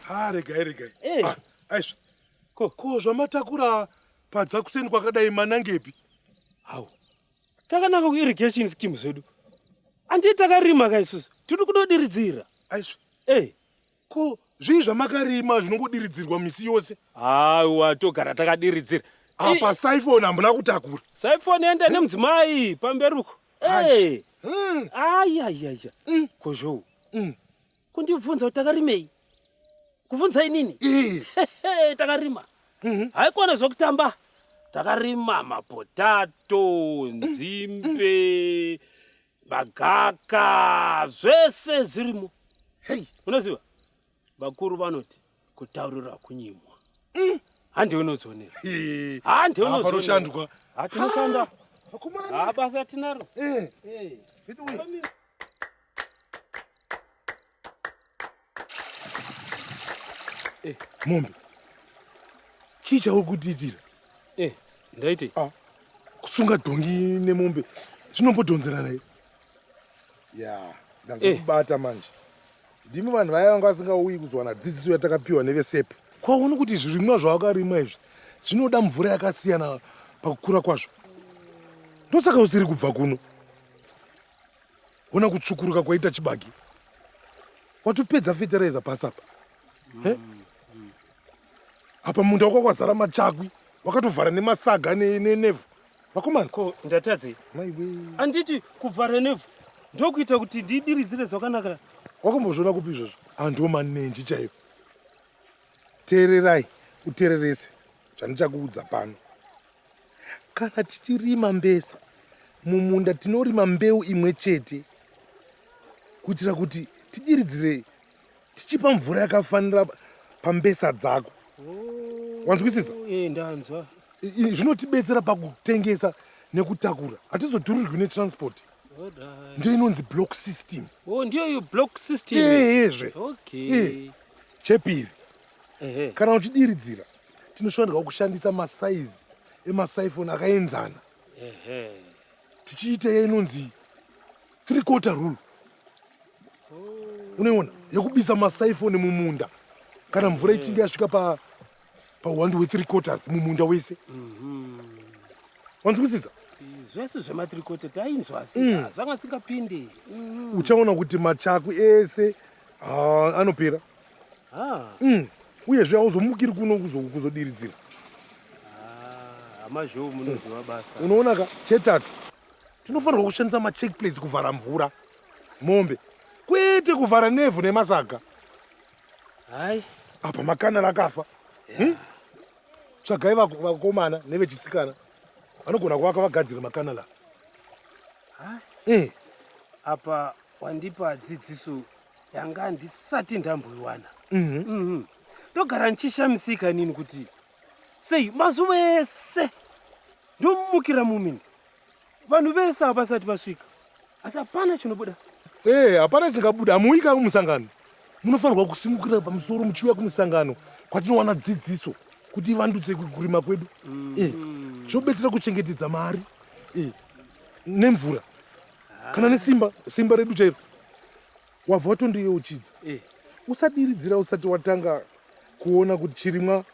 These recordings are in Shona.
ha ah, regai regai eh. ah, aizvo ko zvamatakura padza kuseni kwakadai manangepi hau takananga kuirrigation scheme zvedu andii takarima ka isusu tiri kudodiridzira aizvo eh. ko zvii zvamakarima zvinongodiridzirwa misi yose haiwa togara takadiridzira apa saifoni hambuna kutakura saifoni yenda eh? nemudzimai pamberi uko ayayaya hmm. kozvou hmm. kundibvunza kuti takarimei kubvunza inini takarima mhm. haikona zvokutamba takarima mapotato nzimbe magaka zvese zvirimo unoziva vakuru vanoti kutaurira kunyimwa mm. hande unodzionera hande unozonoshandwa hatinoshanda basa tinaro eh. eh. Eh, mombe chii chauri kutiitira eh, ndaitei ah, kusunga dhongi nemombe zvinombodhonzerana i ya eh. ndazokubata eh. manje ndimi vanhu vaya vanga vasingauyi kuzowana dzidziso yatakapiwa nevesepe kwaoni kuti zvirimwa zvawakarimwa izvi zvinoda mvura yakasiyana pakukura kwazvo ndosaka usiri kubva kuno Ona kutsvukuruka kwaita chibage. Watopedza fetereza pasi apa. He? Apa munda wako kwazara machakwi. Wakatovhara nemasaga ne- ne- nevhu. Vakomana. ko ndatadze anditi kuvhara nevhu ndokuita kuti ndidiridzire zvakanaka Wakambozviona kupi izvozvo? Andiwo manenji chaiwo. Teererai, utererese zvandichakuudza pano. Kana tichirima mbesa mumunda tinorima mbeu imwe chete kuitira kuti tidiridzire tichipa mvura yakafanira pambesa dzako wanzwisisa oh, eh, ndanzwa zvinotibetsera pakutengesa nekutakura hatizoturirwi netranspoti ndiyo inonzi block system oh, ndiyo iyo block system eezve okay. chepiri kana uchidiridzira tinofanirwa kushandisa masaizi emasaifoni akaenzana tichiita iyo inonzi three quarter rule unoiona yekubisa masaifoni mumunda kana mvura ichinge yasvika pa pahwandi hwethree quarters mumunda wese mhm. wanzwisisa zvese zvemathree quarter tainzwa asi mm. zvanga singapindi mhm. uchaona kuti machaku ese ah, anopera ah. mm. uyezve auzomukiri kuno kuzodiridzira ah, amazhou munoziva basa unoona ka chetatu tinofanirwa kushandisa macheck plates kuvhara mvura mombe kwete kuvhara nevhu nemasaga hai apa makana rakafa yeah. hmm? tsvagai vakomana nevechisikana vanogona kuvaka vagadzire makana la eh. apa wandipa dzidziso yanga ndisati ndamboiwana mhm. mhm. ndogara ndichishamisika nini kuti Sei mazuva ese ndomumukira mumin vanhu vese havasati vasvika asi hapana chinobuda ee eh, hapana chingabuda hamuuyika kumusangano munofanirwa kusimukira pamusoro muchiuya kumusangano kwatinowana dzidziso kuti ivandutse kurima kwedu mm. eh, zvobetsera kuchengetedza mari eh, nemvura kana nesimba simba redu chairo wabva watondoyeuchidza eh. usadiridzira usati watanga kuona kuti chirimwa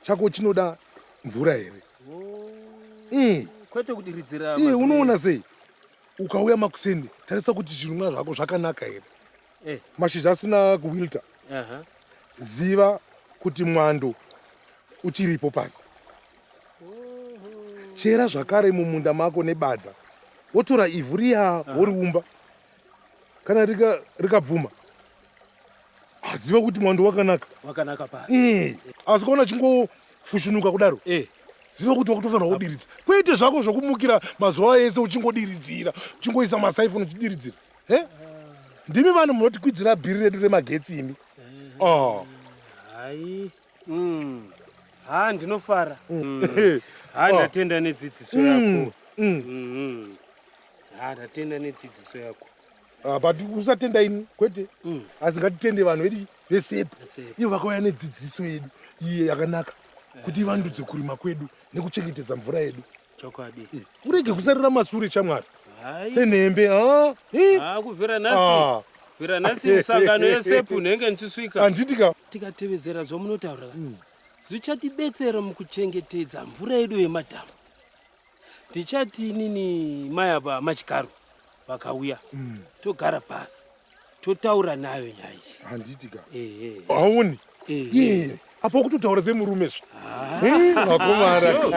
chako chinoda mvura here oh. mm. kwete kudiridzira eh, unoona sei ukauya makuseni tarisa kuti zvinumwa zvako zvakanaka here eh. mashizha asina kuwilta uh -huh. ziva kuti mwando uchiripo pasi chera zvakare mumunda mako nebadza wotora ivhu riya woriumba uh -huh. kana rikabvuma rika aziva kuti mwando wakanaka wakanaka pa eh. asi kaona chingofushunuka kudaro eh. ziva kuti wakutofanira kudiridza kwete zvako zvokumukira mazuva ese uchingodiridzira uchingoisa masaifoni uchidiridzira he ndimi vanhu munotikwidzira bhiri redu remagetsi imi eh. ah. hai mm. ha ndinofara mm. ha ah. ndatenda nedzidziso yako mm. Mm-hmm. Ah, tatenda nedzidziso yako. Ah, but usatenda ini kwete mm. asi ngatitende vanhu vedu vesepa ivo vakauya nedzidziso yedu iye yakanaka eh. kuti ivandudze kurima kwedu nekuchengetedza mvura yedu chokwadi eh, urege kusarira masure chamwari senhembe ah, eh. ah, kuvhira nhasi vhira nhasi misangano yesepu unenge ndichisvika anditika tikatevedzera zvamunotaura mm. zvichatibetsera mukuchengetedza mvura yedu yemadhamu tichati inini mai ava machikaru vakauya mm. togara pasi totaura nayo nyaya iyi handitika hauni apa kutotaura semurume zve vakomara